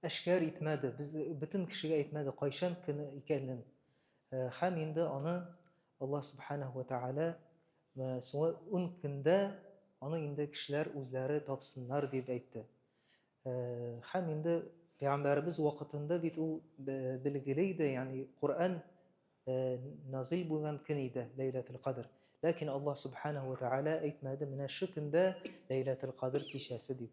Әшкәр итмәде, без бөтен кешегә әйтмәде кайчан көне икәнен. Э, һәм инде аны Аллаһ субханаһу ва тааля э, соңгы ун көндә аны инде кешеләр үзләре тапсыннар дип әйтте. Э, һәм инде пәйгамбәребез вакытында бит ул билгеле иде, ягъни Коръән назил булган көн иде, Ләйләтул Кадр. Ләкин Аллаһ субханаһу ва тааля әйтмәде, менә шу көндә Ләйләтул Кадр кичәсе дип.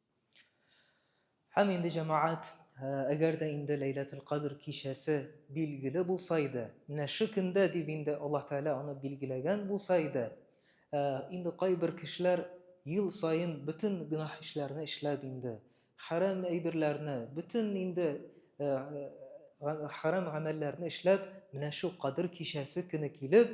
Һәм инде җәмәгать, әгәр дә инде Ләйләтул Кадр кичәсе билгеле булса иде, менә шу көндә дип инде Аллаһ Тәгалә аны билгеләгән булса иде, инде кайбер кешеләр ел саен бөтен гөнаһ эшләрне эшләп инде, хәрам әйберләрне, бөтен инде хәрам гамәлләрне эшләп, менә шу Кадр кичәсе көне килеп,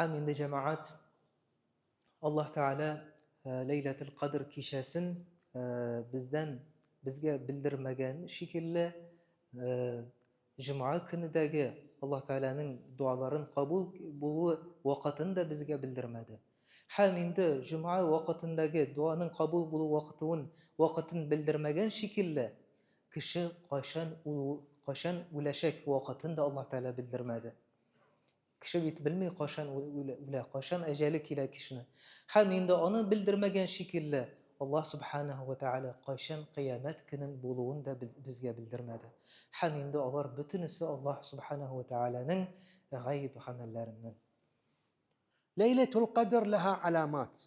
Һәм инде җәмәгать Аллаһ Тәгалә э, Ләйләтул Кадр кичәсен э, бездән безгә белдермәгән шикелле э, җомга көнедәге Аллаһ Тәгаләнең дуаларын кабул булуы вакытын да безгә белдермәде. Һәм инде җомга вакытындагы дуаның кабул булу вакытын вакытын белдермәгән шикелле Кеше кайчан ул кайчан үләчәк вакытын да Аллаһ Тәгалә белдермәде. Кеше бит белми кайчан үлә, кайчан әҗәле килә кешене. Һәм инде аны белдермәгән шикелле, Аллаһ Субханаһу ва Тәгалә кайчан кыямәт көнен булуын да безгә белдермәде. Һәм инде алар бөтенесе Аллаһ Субханаһу ва Тәгаләнең гайб гамәлләреннән. Ләйләтул Кадр лаһа аламат.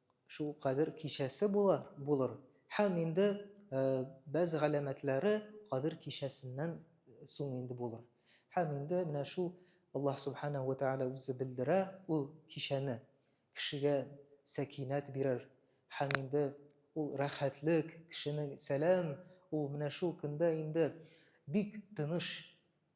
Шул Кадер кичәсе була, булыр. Һәм инде бәз галәмәтләре Кадер кичәсеннән соң инде булыр. Һәм инде менә шул Аллаһ Субхана ва Тәгалә үзе белдерә ул кичәне. Кешегә сәкинәт бирер. Һәм инде ул рәхәтлек, кешенең сәлам, ул менә шул көндә инде бик тыныч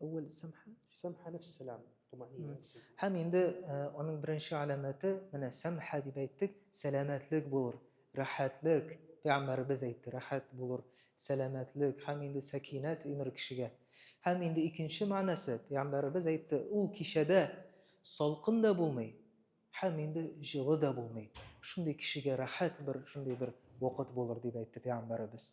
Әүвәл сәмха. Сәмха нәфс сәлам, туманина. Һәм инде аның беренче галәмәте, менә сәмха дип әйттек, сәламәтлек булыр, рәхәтлек, пәйгамбәребез әйтте, рәхәт булыр, сәламәтлек һәм инде сәкинәт инер кешегә. Һәм инде икенче мәгънәсе, пәйгамбәребез әйтте, ул кичәдә салкын да булмый, һәм инде җылы да булмый. Шундый кешегә рәхәт бер, шундый бер вакыт булыр дип әйтте пәйгамбәребез.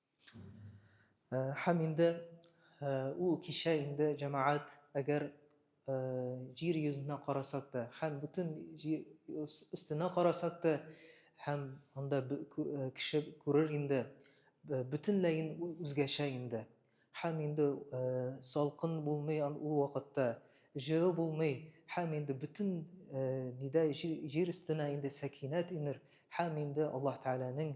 Һәм инде ул кичә инде җәмәгать, әгәр җир йөзенә карасак та, һәм бөтен җир өстенә карасак та, һәм анда кеше күрер инде, бөтенләй үзгәчә инде. Һәм инде салкын булмый ул вакытта, җылы булмый, һәм инде бөтен нидә җир өстенә инде сәкинәт инер, һәм инде Аллаһ Тәгаләнең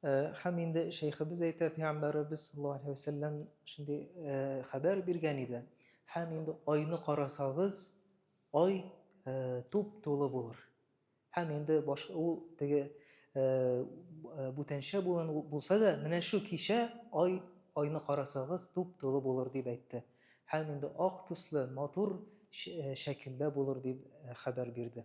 Хәм инде шәйхебез әйтә, пәйгамбәребез саллаллаһу алейхи вәсәлләм шундый хәбәр биргән иде. Хәм инде айны карасагыз, ай туп тулы булыр. Хәм инде баш ул теге бүтәнчә булган булса да, менә шу кичә ай айны карасагыз туп тулы булыр дип әйтте. Хәм инде ак төсле матур шәкелдә булыр дип хәбәр бирде.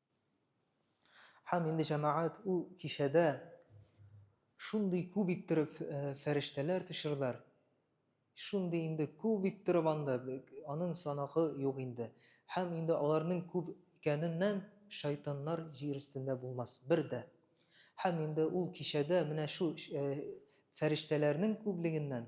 Һәм инде җәмәгать ул кичәдә шундый күп иттереп э, фәрештәләр төшерделәр. Шундый инде күп иттереп анда аның санагы юк инде. Һәм инде аларның күп икәненнән шайтаннар җир өстендә булмас бер дә. Һәм инде ул кичәдә менә шу э, фәрештәләрнең күплегеннән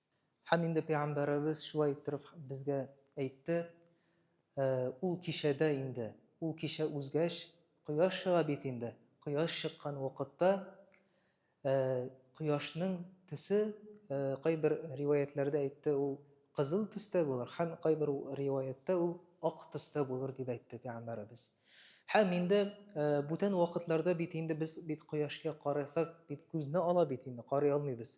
Һәм инде Пәйгамбәребез шулай иттереп безгә әйтте, Ул кичәдә инде, ул кичә узгач, кояш чыга бит инде, кояш чыккан вакытта кояшның төсе, кайбер риваятьләрдә әйтте, ул кызыл төстә булыр, һәм кайбер риваятьтә ул ак төстә булыр, дип әйтте Пәйгамбәребез. Һәм инде бүтән вакытларда бит инде без бит кояшка карасак, бит күзне ала бит инде, карый алмыйбыз.